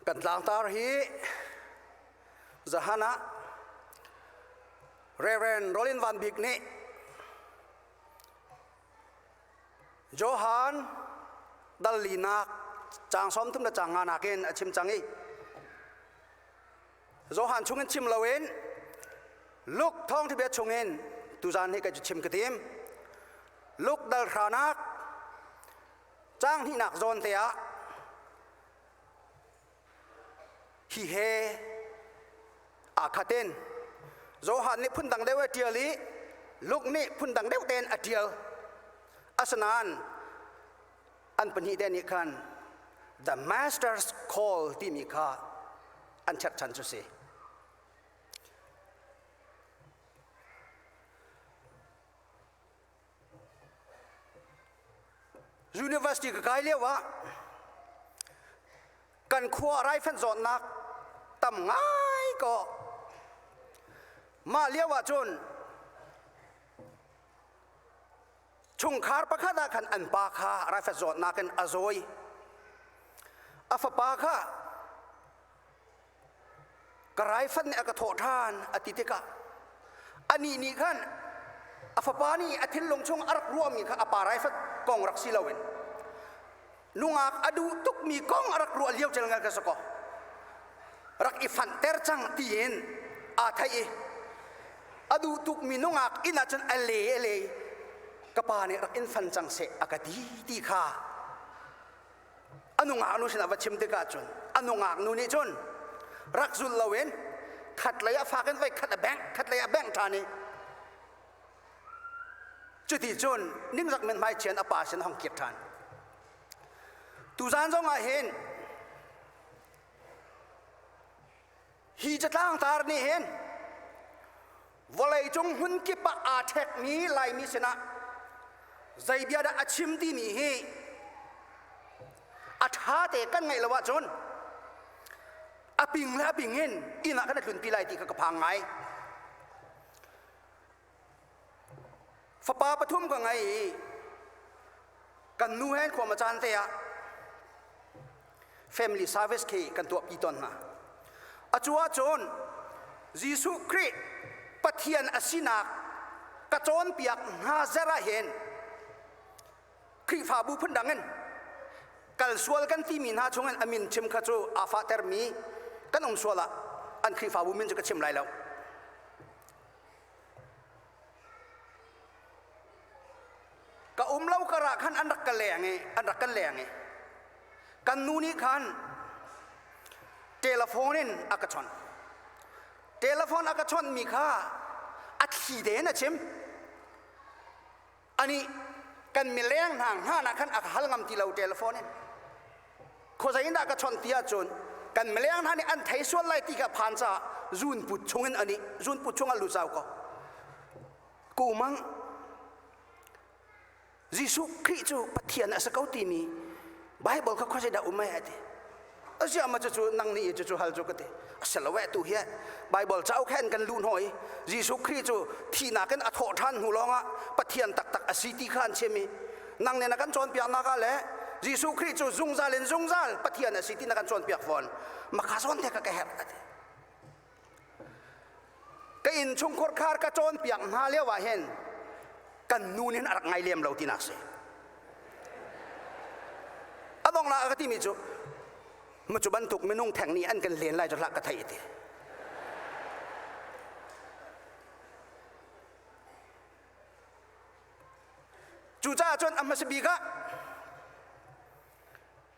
Kan tlangtar hi zahan ah Reverend Rollin Van Bik nih Johan dal linak cang som thum le cang nga nakin a chim cang i Johan chungin chim loin Luke thawngthabia chungin tuzan he kai cu chim ka tim. Luke dal hranak cang hnihnak zawn te ah hi he aa khatin Johan nih phundang deuh a ṭial i Luke nih phundang deuh tein a ṭial. Asinain an pahnih te nih khan the masters call timi kha an cherhchan cu si university ka kai lio ah kan khua raifanh zawtnak tam ngai ko mah lio ah cun chungkhar pakhat ah khan an pa kha rafet zawtnak in a zawi a fapa kha ka raifan nih a ka thawh ṭhan a ti tikah anih nih khan a fapa nih a thinlung chung a rak ruahmi kha a pa raifat kong rak si loin nungak a duh tukmi kong a rak ruah lio cel ngal ka sako rak i fanh ter cang tiin aa thai i a duh tukmi nungak inn ahcun a le a le ka pa nih rak in fan cang seh a ka ti ti kha a nungak nu sinah va chim tikah cun a nungak nu nih cun rak zul loin khat lei a fak in vai khat a bengh khat lei a bengh ṭhan i Cuti cun nimzak men hmai chian a pa sin hong kir ṭhan. Tuzan zong ah hin hi catlang tar nih hin vawlei cung hmun kip ah aa ṭhekmi Laimi sinah zei bia dah a chim timi hi a ṭha te kan ngaih lo ahcun a ping le a ping in inn ah kan i tlunpi lai ti kha ka phang ngai. Fapa pathum ka ngei i kan nu hen khua caan te ah family service khi kan tuahpi ton hna a cu ahcun Jesuh Khrih Pathian asinak ka cawnpiak hna zer ah hin Khrihfabu phundang in kal sual kan timi hna chungin a min chim kha cu aa fahtermi kan um sual ah an Khrihfabu min cu ka chim lai lo ka um lo kar ah khan an rak ka leng i an rak ka leng i kan nu nih khan telephone in a ka chawnh telephone a ka chawnh mi kha a thli den a chim ani kan mileng hna hna na khan a ka hal ngam ti lo telephone in khawzai in dah ka chon ti ahcun kan mileng hna nih an thei sual lai ti ka phan ca zunput chungin ani zunput chungah lucau ko kumang Jesuh Khrih cu Pathian a sa ko timi Bible kha khawzai dah um ai ati a ziah ma cucu nang nih cucu hal cu ka ti a si lo eh tu hi Bible cauk he an kan luh hnawi Jesuh Khrih cu thihnak in a thawh ṭhan hnu lawngah Pathian taktak a si ti kha an chim i nang nih na kan cawnpiaknak ah le Jesuh Khrih cu zungzal in zungzal Pathian a si ti na kan cawnpiak fawn maka zawn te ka ka herh a ti ka innchungkhur khar ka cawnpiak hna lio ah hin kan nu nih a rak ngai lem lo tinak si a dong la ka timi cu mu cu bantuk minung theng nih an kan len lai cu hlak ka thei ti cucaah cun a hmasabik ah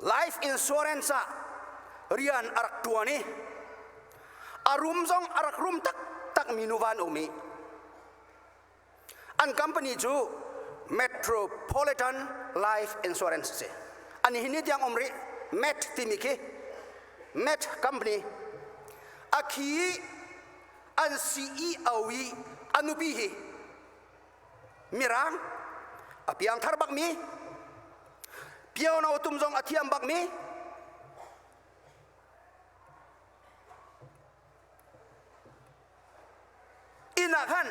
life insurance ah rian a rak ṭuan i a rum zong a rak rum taktakmi nu van um i an company cu metropolitan life insurance si an hi ni tiang um rih met timi khi met company a khi an CEO i a nupi hi mirang a piangthar bakmi piono tum zong a thiam bakmi inn ah khan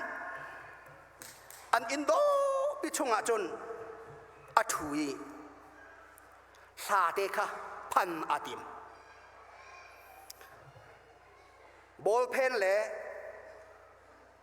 an inn dawpi chungah cun a ṭhu i hlate kha phan a tim ballpen le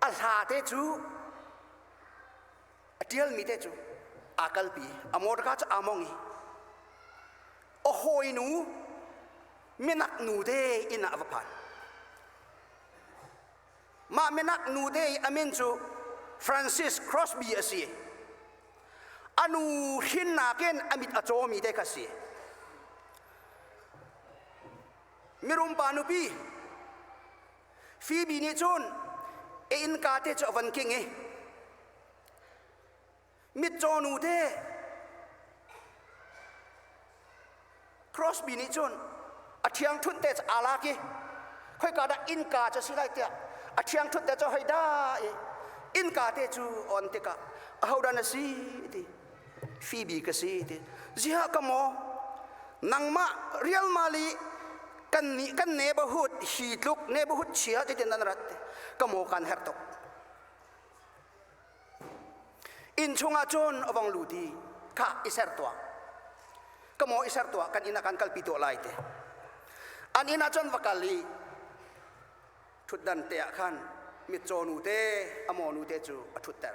a hla te cu a ṭialmi te cu aa kalpi a morga cu aa mong i a hawinu minak nute inn ah a va phan mah minak nute i a min cu Francis Crosby a si a nu hrinnak in a mit a cawmi te kha a si mirum pa nupi Phoebe nih cun a innka te cu a van king i mitcaw nu te Crosby nih cun a ṭhiangṭhunh te cu aa lak i khoika dah innka cu a si lai tiah a ṭhiangṭhunh te cu hoi da i innka te cu a on tikah ahodah na si ti Phoebe ka si ti ziah ka maw nangmah rialmal i kan nih kan neighborhood hi tluk neighborhood chia ti tin nan rat ka maw kan her tuk in chungah cun avang lu ti kha iser tua ka maw iser tua kan inn ah kan kalpi to lai te an inn ah cun va kal i ṭhutdan te ah khan mitcaw nu te amaw nu te cu a ṭhutter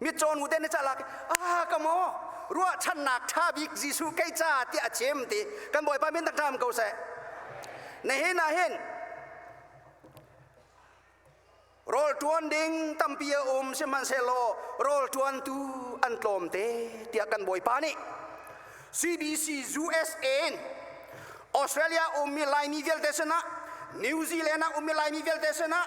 mitcaw nu te na calak a ka maw ruahchannak ṭha bik Jesuh kei ca tiah a chim ti kan bawipa min tak ṭam ko seh na hin ah hin rawl ṭuan ding tampi a um sihmanhsehlaw rawl ṭuantu an tlawm te tiah kan bawipa nih CBC USA in Australia ummi Laimi vialte sinah New Zealand ah ummi Laimi vialte sinah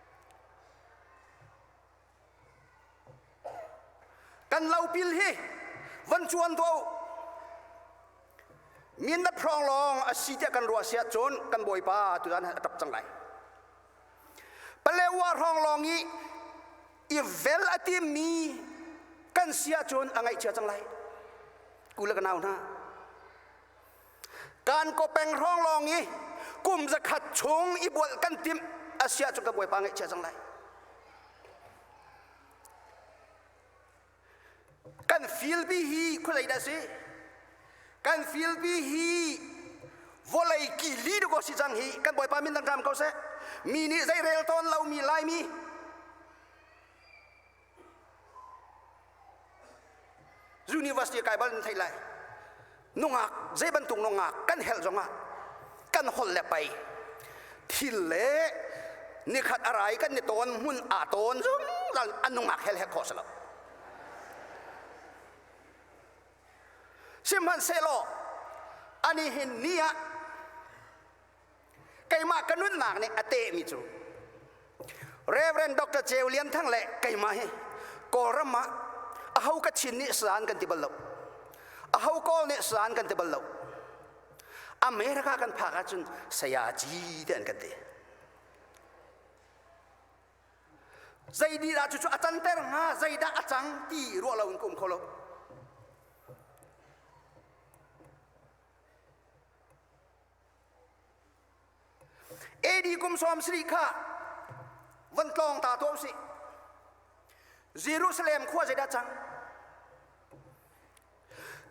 kan lopil hi van cuan do mindat prong long asi tiah kan ruah siah cun kan bawipa tuan a tap cang lai palewa rong long i i vel a timmi kan sia cun a ngaihchia cang lai kula ka nau hna Kankaw peng hrawng lawng i kum zakhat chung i bual kan timh asia cu ka bawipa ngaihchia cang lai kan filpi hi khualei dah si kan filpi hi vawlei kili duko si cang hi kan bawipa min dang ram ko seh mi nih zei rel tawn lomi laimi University kai bal nan theih lai. Nungak zei bantuk nungak kan helh zongah kan holh le pai thil le nikhat arai kan ni tawn hmun a tawn zungzal an nungak hel hek kho selo. Sihmanhsehlaw ani hin ni ah keimah ka nunnak nih a tehmi cu Reverend Dr. Ceu Lian Thang le keimah hi Kawlram ah aho ka chin nih san kan ti bal lo aho kawl nih san kan ti bal lo America kan phak ahcun saya ci te an kan ti zeididah cucu a canter hnga zeidah a cang ti ruah lo in ka um kho lo AD kum sawm sarih kha van tlawng ta tuah usih Jerusalem khua zeidah cang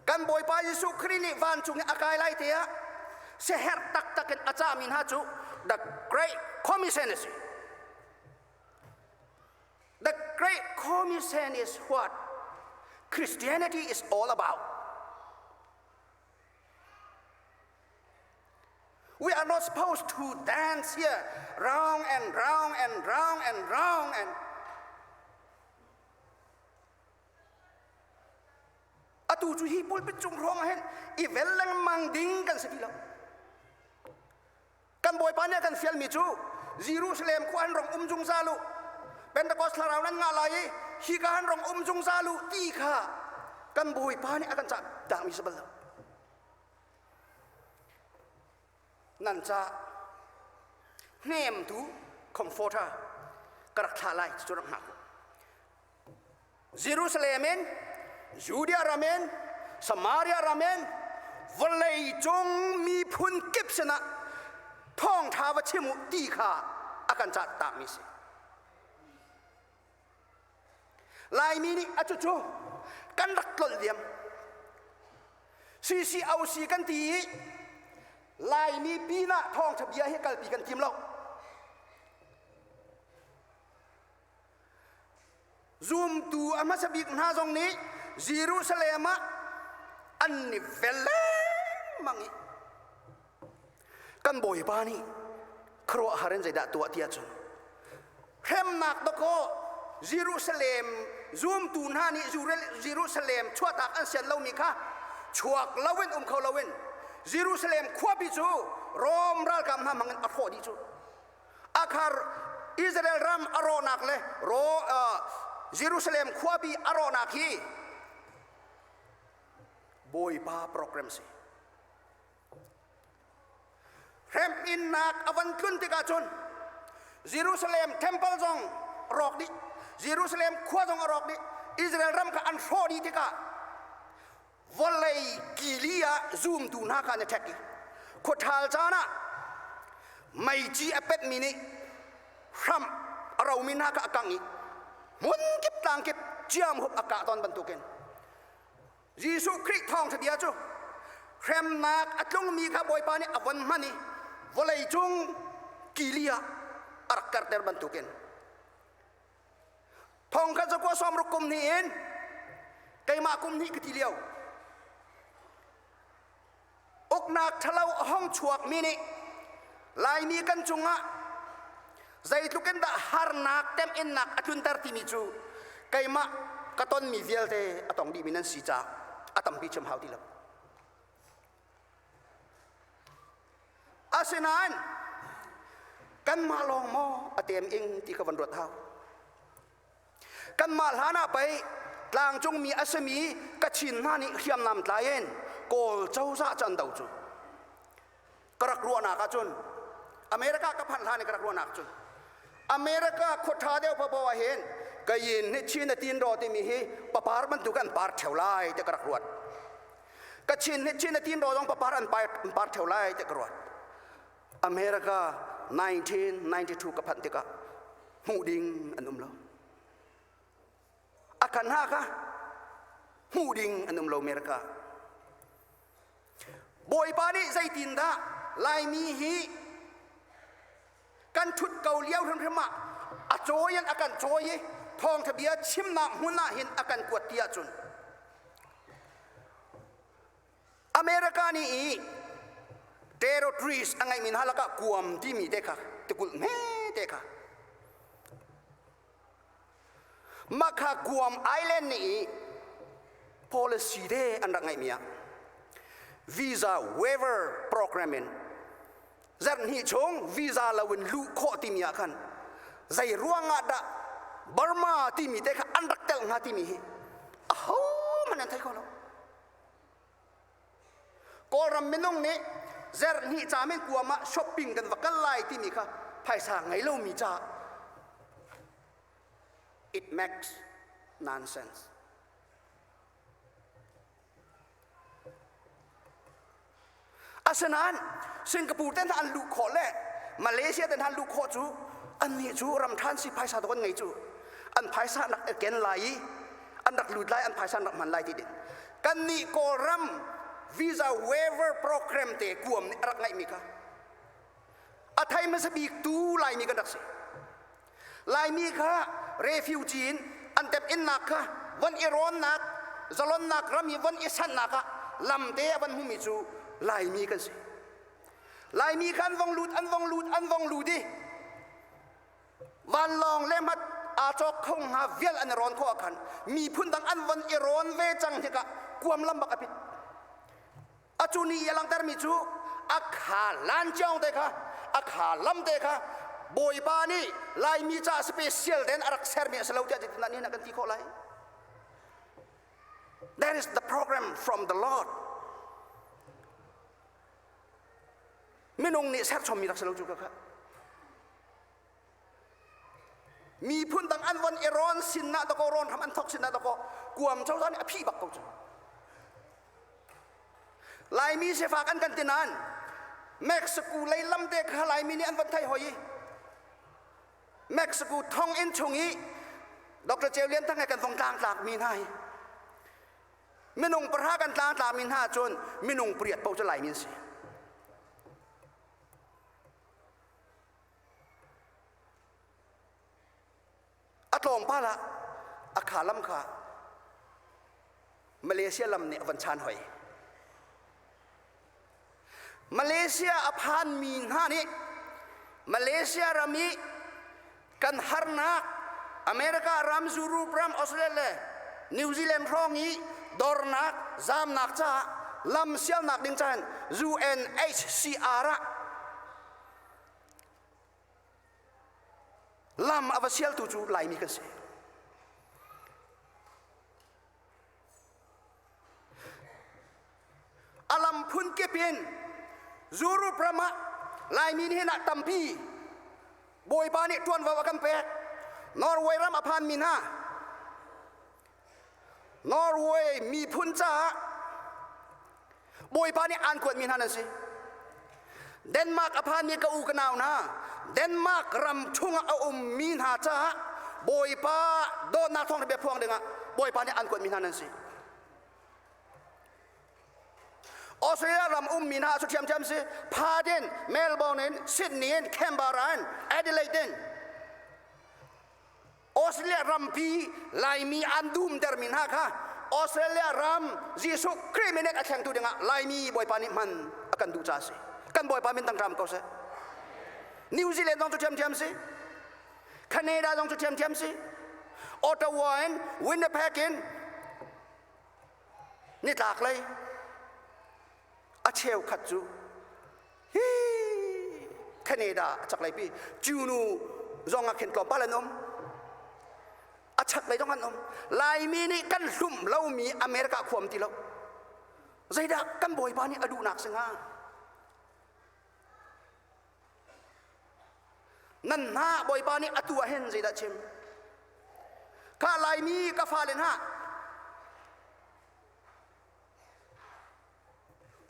kan bawipa Jesuh Khrih nih vancung i a kai lai te ah seher taktak in a cahmi hna cu the great commission is the great commission is what Christianity is all about We are not supposed to dance here round and round and round and round and atu cu hi pulpit cung ruang ah hin i vel lengmang ding kan si ti lo Kan Bawipa nih a kan fialmi cu Jerusalem khua an rong um zungzal u, Pentecost thlarau nan ngah lai i hika an rong um zungzal u ti kha kan Bawipa nih a kan cahdahmi si bal lo. Nan ca hnemtu comforter ka rak thlah lai cucu rak hngak u. Jerusalem in Judea ram in Samaria ram in vawlei cung miphun kip sinah thawngṭha va chim u ti kha a kan cah takmi a si. Laimi nih a cucu kan rak tlolh diam. CCOC kan ti i Laimi pinah thawngṭha bia hi kalpi kan tim lo. Zumtu a hmasa bik hna zong nih Jerusalem ah an ni vel lengmang i kan bawipa nih khuaruahhar in zeidah tuah tiah cun hremnak dakaw Jerusalem zumtu hna nih Jerusalem chuahtak an sian lomi kha chuak loin um kho loin Jerusalem khuapi cu Rom ralkap hna hmangin a hrawh dih cu akhar Israel ram a rawhnak le Jerusalem khuabi a rawhnak hi Bawipa program si. Hrem innak a van tlun tikah cun Jerusalem temple zong rawk dih Jerusalem khua zong a rawk dih Israel ram kha an hrawh dih tikah vawlei kili ah zumtu hna kha an i ṭhek i khuaṭhal caan ah meici a petmi nih hram a romi hna kha a kangh i hmun kip tlang kip ciamhup a kah ton bantukin Jesuh Khrih thawngṭhabia cu hremnak a tlungmi kha Bawipa nih a von hman i vawleicung kili ah a rak karter bantukin Thong kan zakua suam ruk kum hnih in keimah kum hnih ka ti lio uknak ṭhalo hong chuak mi nih laimi kan cungah zeitluk in dah harnak temhinnak a tlunter timi cu keimah ka tonmi vialte a tong dihmi nan si caah a tampi cem hau ti lo Asinain kanmah lawng maw a tem ing ti kha van ruat hau. Kanmah hlan ah pei tlangcungmi a sami ka chin hna nih hriamnam tlain kawl cozah can do cu ka rak ruahnak ah cun America ka phan hlan i ka rak ruahnak cun America khuaṭha deuh papo ah hin ka yin hi Chin a tin ro timi hi papar bantuk an par ṭheu lai ti ka rak ruat. ka chin chin a tin ro dong papar an par par theo lai te ka ruat america 1992 ka phan tikah hmuh ding an um lo a kan ha ka hmuh ding an um lo america bawipa nih zeitin dah laimi hi kan thut ko lio hrimhrim ah a cawi in a kan cawi i thawngtha bia chimnak hmun ah hin a kan kuat ti ahcun America nih i terrorist a ngeimi hna lakah kuam timi te kha tikulh hme te kha Mah kha Guam Island nih policy de an rak ngeihmi ah visa waiver program in zarh hnih chung visa loin luh khawh timi ah khan zei ruang ah dah Burma timi te kha an rak tel hnga timi hi ahohmanh an thei kho lo. Kawlram minung nih zerhnih cam in kuam ah shopping kan va kal lai timi kha phaisa ngei lomi ca it makes nonsense asinain singapore te hna an luh khawh le malaysia te hna an luh khawh cu annih cu ram ṭhan si phaisa to kan ngei cu an phaisa an rak ken lai i an rak lut lai an phaisa an rak hman lai ti din kannih Kawlram visa waiver program te kuam nih a rak ngaihmi kha a thei hmasa bik tu Laimi kan rak si. Laimi kha refugee in an tep innak kha von i rawnnak zalonnak ram i von i sannak ah lamte a van hmumi cu Laimi kan si. Laimi khan vong lut an vong lut an vong lut i vanlawng le mat aa cawk kho hnga vial an rawn khawh khan miphun dang an von i rawn ve cang hika kuam lam bak a pit a cu ni a langter mi cu a kha lanciong te kha a kha lam te kha bawipa nih laimi ca special den a rak ser mi a si lo tiah titin ni na kan ti khawh lai That is the program from the Lord. Minung nih serchom mi rak si lo cu ka kha. miphun dang an von i ron sin na dako ron ham an thok sin na dako kuam cho zan a phi bak ko cu laimi sefak an kan tinan mexico lei lam te kha laimi nih an von thai hoi mexico thong in chung i dr ceu lian thang kan vong tlang tlak mi hna hi minung pahra kan tlang tla mi hna cun minung pariat po cu laimi si A tlawmpal ah a kha lam kha Malaysia lam nih a van chan hoi. Malaysia a phanmi hna nih Malaysia ram i kan harnak America ram zurup ram Australia le New Zealand hrawng i dornak zamnak caah lam sialnak ding caan UNHCR ah lam a va sialtu cu Laimi kan si A lam phun kip in zurup ram ah Laimi nih hin ah tampi Bawipa nih ṭuanvo a kan pek. Norway ram a phanmi hna Norway miphun caah Bawipa nih aan kuatmi hna nan si. Denmark a phanmi ka u ka nau hna, Denmark ram chungah a ummi hna caah Bawipa dawtnak thawng bia phuang dingah Bawipa nih aan kuatmi hna nan si. Australia ram ummi hna cu ṭhiamṭhiam si Paden, Melbourne in, Sydney in, Canberra in, Adelaide in Australia rampi laimi an dumtermi hna kha Australia ram Jesuh Khrih minek a thlengtu dingah Laimi Bawipa nih hman a kan duh caah a si. Kan Bawipa min tangkram ko seh. New Zealand zong cu ṭhiamṭhiam si. Canada zong cu ṭhiamṭhiam si. Ottawa in Winnipeg in nitlak lei a cheukhat cu Canada a chaklei pi cunu zong ah khin tlawmpal an um a chaklei dong an um Laimi nih kan hlum lomi America khuam ti lo zeidah kan bawipa nih a duhnak singah nan hna bawipa nih a tu ahin zeidah chim ka laimi ka fale hna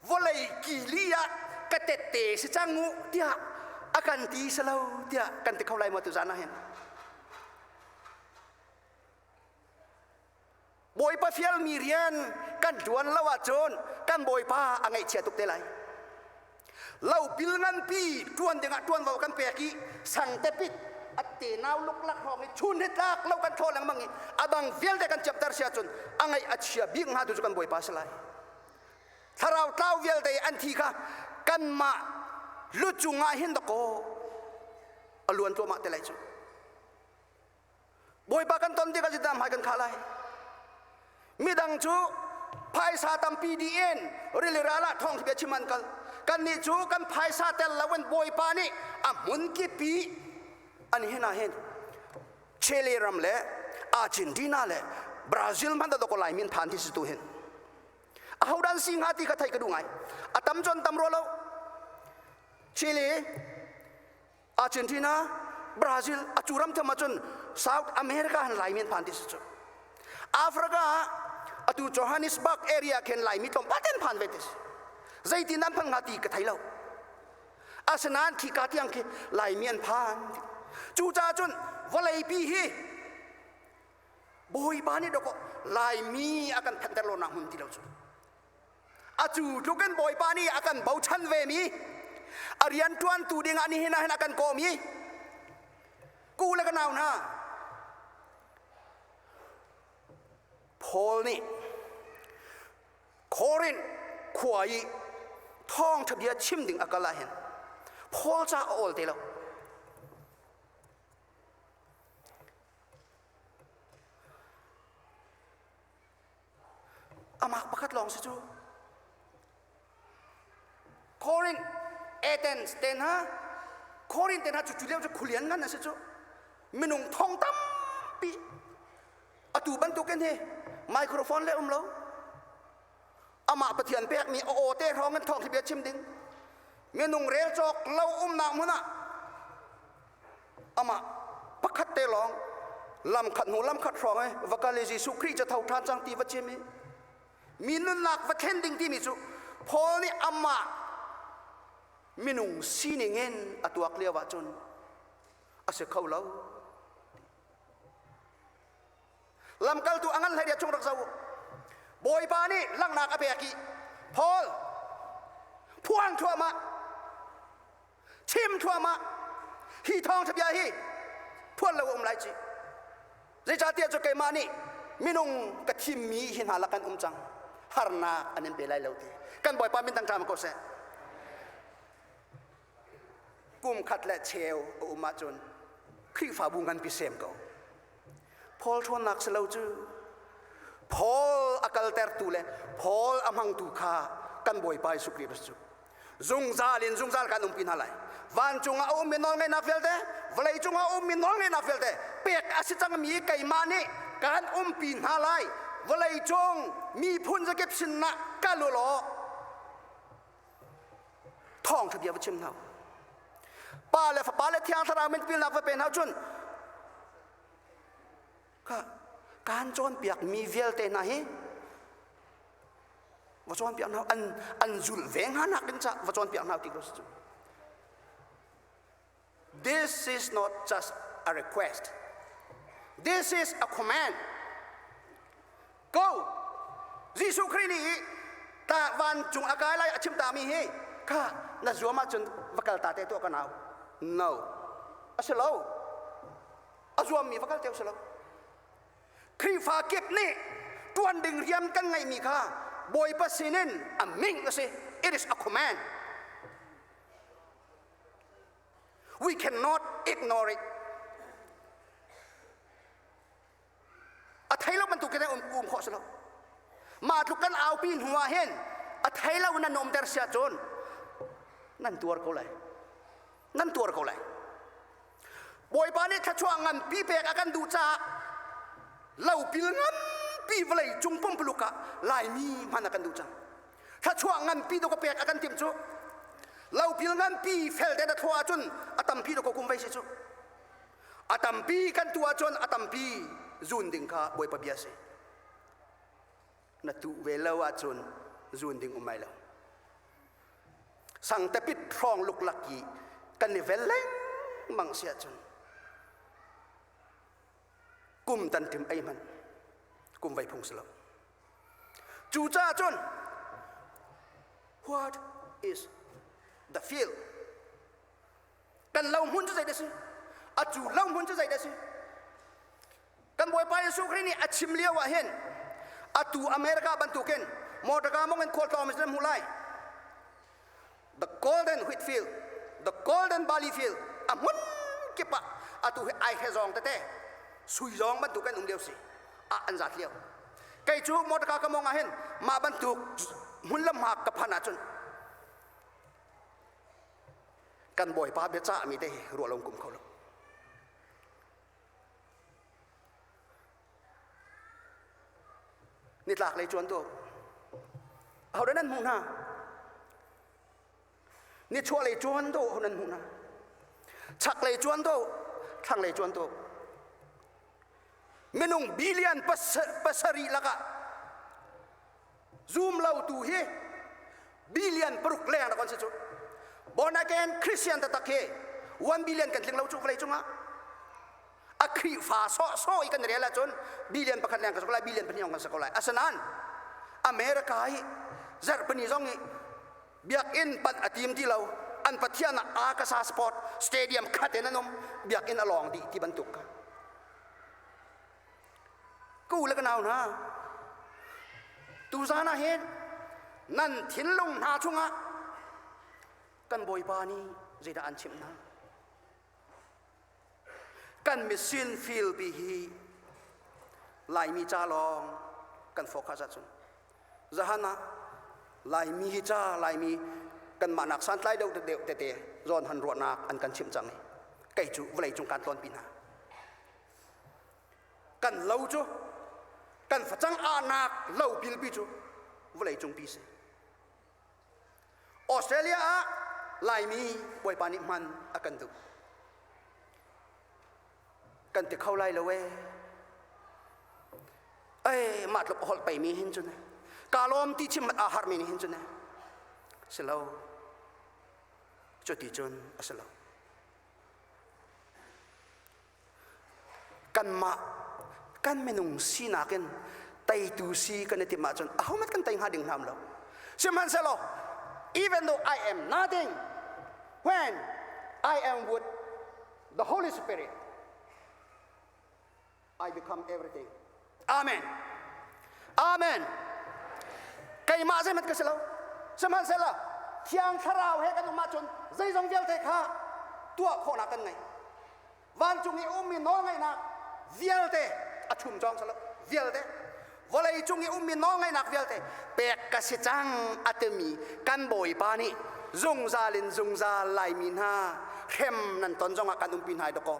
vawlei kili ah ka tette si cang u tiah a kan ti si lo tiah kan ti kho lai maw tu zan ah hin bawipa fialmi rian kan ṭuan lo ahcun kan bawipa a ngaihchia tuk te lai lo pil nganpi ṭuan dingah ṭuanvo kan pek i sang tepit atte nau luklak hrawng i chun hitlak lo kan ṭhaw lengmang i adang vialte kan ciapter sia cun a ngaih a chia bik hnga tu cu kan bawipa si lai thlarau tlau vialte an thi kha kanmah lucungah hin dakaw a luan tluahmah te lai cu Bawipa kan ton tikah cutin hmai kan khah lai. Midang cu phaisa tampi di in rili ralah thawng bia chim an kal. Kannih cu kan phaisa tel loin Bawipa nih a hmun kipi an hin ah hin Chile ram le Argentina le Brazil hmanh dok lai min phan ti si tu hin ahodan si hnga ti kha theih ka duh ngai a tam con tam rua lo Chile Argentina Brazil a cu ram tham ahcun South America han Lai men phan ti si cu Africa ah atu Johannesburg area khin Laimi tlawmpaten phan ve ti si zeitin nan phang nga ti ka thei lo asinain khi ka tiang khi Laimi an phan cucaah cun vawleipi hi bawipa nih doko Laimi a kan phanter lo nak hmun ti lo cu Atu tluk in Bawipa nih a kan bochan ve mi a rianṭuantu ding ah nihin ah hin a kan kawm i ku le ka nau hna Paul nih Korin khua i thawngṭha bia chim ding a kal ah hin Paul ca a awl te lo Amak pakhat lawng si cu. Korin Athens te hna Korin te hna cu cu lio cu khulian ngan a si cu minung thong tampi atu bantukin hi microphone le um lo amah pathian pekmi a aw te hrawng in thawng hi bia chim ding minung rel cawk lo umnak hmun ah amah pakhat te lawng lamkhat hnu lamkhat hrawng e va kal i Jesuh Khrih cu tho ṭhan cang ti va cim i mi nunnak va thlen ding timi cu Paul nih amah minung sining in a tuak lio ahcun a si kho lo lamkaltu a ngan hlei dia chung rak zoh bawipa nih langhnak a pek i Paul phuang thluahmah chim thluahmah hi thawngtha bia hi phuan lo um lai ci zeicahtiah cu keimah nih minung ka thimmi hi hna la kan um cang harnak an in pe lai lo ti kan bawipa min tang ṭam ko seh kum khat le cheu a um ahcun Khrihfabu nganpi sem ko Paul ṭhawnnak si lo cu Paul a kaltertu le Paul a hmangtu kha kan Bawipa Jesuh Khrih cu zungzal in zungzal kan umpi hna lai vancung ah a ummi nawlngaihnak vialte vawlei cung ah a ummi nawlngaihnak vialte pek a si cangmi keimah nih kan umpi hna lai vawlei cung miphun zakip sinah kal u law thawng bia va chim hna pa le fapa le thiang thlarau min pilnak va pe hna cun ka kan cawnpiak mi vialte hna hi va cawnpiak hna an an zul ve hna nak in ca va cawnpiak hna ti ko si cu This is not just a request. This is a command. Go! Jesuh Khrih nih ta vancung a kai lai a chim ta mi hi ka na zuam ahcun va kal ta te tuah ka nau. No. A si lo. A zuam mi va kal te si lo. Khrihfa kip nih tuan ding rian kan ngeih mi kha Bawipa sinin a ming a si. It is a command. We cannot ignore it. A thei lo bantuk in um, um khawh si lo. Mah tluk kan aupi hnu ah hin a thei lo nan um der sia cun nan tuar ko lai. Nan tuar ko lai. Bawipa nih thluachuah nganpi pek a kan duh caah lopil nganpi vawlei cung pumpuluk ah laimi hman a kan duh cang. Thluachuah nganpi dawk pek a kan timh cu lopil nganpi fel te na thua ahcun a tampi dawk kum vai si cu. A tampi kan tu ahcun a tampi zun ding kha Bawipa bia si. na tuh ve lo ahcun zuun ding um ai lo sang tapit hrawng luklak i kan i vel lengmang si ahcun kum tan tim ei man kum vai phung si lo cu ca cun what is the field kan lohmun cu zeidah si a cu lohmun cu zeidah si kan bawipa jesuh khrih nih a chim lio ah hin atu america bantukin motorka mong in khualtlawng mi hmuh lai the golden whitfield the golden valley field a hmun kip ah atu hi ai he zong tete sui zong bantukin um lio si a an zat lio kei cu motorka ka mong ah hin mah bantuk hmun lamhak ka phan ahcun kan bawipa biacahmi te hi ruah lo kum kho lo nitlak lei chuan tu hodan nan hmuh hna ni chuah lei chuan tu hodan hmuh hna chak lei chuan tu thlang lei chuan tu minung billion pasarih lakah zum lo tu hi billion paruk leng rak an si cu born again christian tatak hi one billion kan tling lo cu vawlei cungah a khrifa so so i kan real ahcun billion pakhat leng kan si ko lai billion pahnih kan si ko lai asinain america hi zarhpini zong i biakinn panh a tim ti lo an pathian ah akasa sport stadium khat in an um biakinn a lawng dih ti bantuk ka Ku le ka nau hna, tuzan ah hin nan thinlung hna chungah kan Bawipa nih zeidah an chimh hna? Kan mission field ti hi Laimi ca lawng kan focus ahcun zahan ah Laimi hi ca Laimi kanmah nak santlai deuh deuh tete zawn han ruahnak an kan chimh cang i kei cu vawlei cung kaan tlawnpi hna. kan lo cu kan facang anak lo pilpi cu vawlei cung pi si australia ah laimi bawipa nih hman a kan duh kan ti kho lai lo e ei mah tluk holh pei mi hin cu ne ka lawm ti chim a har mi nih hin cu ne si lo cu ti cun a si lo kanmah kan minung sinak in teitu si kan i tim ahcun ahomat kan tei hnga ding hram lo sihmanhsehlaw even though I am nothing when I am with the Holy Spirit I become everything Amen. Amen. Keimah zeimat ka si lo. Sihmanhsehlaw Thiang Thlarau he kan um ahcun zeizong vialte kha tuah khawhnak kan ngei. Vancung i ummi nawlngaihnak vialte a ṭhum cawng silo vialte vawlei cung i ummi nawlngaihnak vialte pek ka si cang a timi kan bawipa nih zungzal in zungzal laimi hna hrem nan ton zongah kan umpi hna dawkaw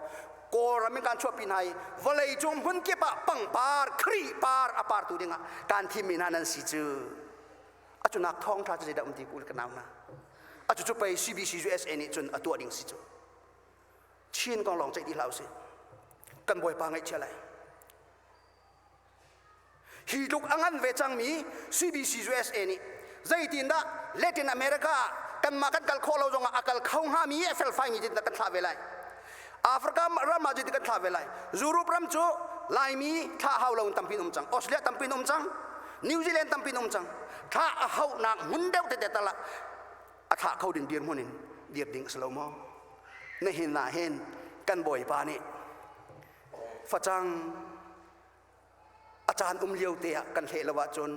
kawlram in kan chuahpi hna i vawlei cung hmun kip ah pangpar khri par a partu dingah kan thimmi hna nan si cu a cu nak thawngṭha cu zeidah um ti kul ka nau hna a cu cu pei CBC cu SA nih cun a tuah ding si cu Chin kong lawng ceih ti hlah usih kan bawipa ngaihchia lai Hi tluk a ngan ve cangmi CBC USA nih zeitindah Latin America ah kanmah kan kal khawh lo zongah a kal kho hngami a felfaimi tindah kan thlah ve lai? Africa ram ah cutin kan thlah ve lai. Europe ram cu Laimi thlah hau lo in tampi in um cang. Australia tampi in um cang. New Zealand tampi in um cang. Thlah a hauhnak hmun deuh tete tal ah a thlah kho ding dirhmun in dir ding a si lo maw? Nihin ah hin kan bawipa nih facang a caan um lio te ah kan hleh lo ahcun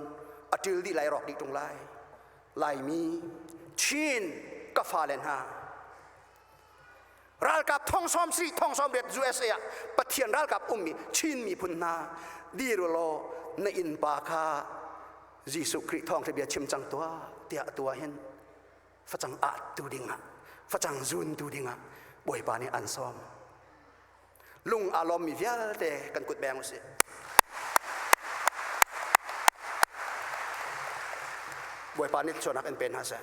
a ṭil dih lai rawk dih ṭung lai laimi chin ka fale hna ralkap thongsawm si thongsawm riat USA ah pathian ralkap ummi chin miphun hna dir law na innpa kha Jesuh Khrih thawng khi bia chim cang tuah tiah tua hin facang ahtu dingah facang zuntu dingah bawipa nih an sawm lung aa lawmmi vialte kan kut beng usih bawipa nih cuanak in pe hna seh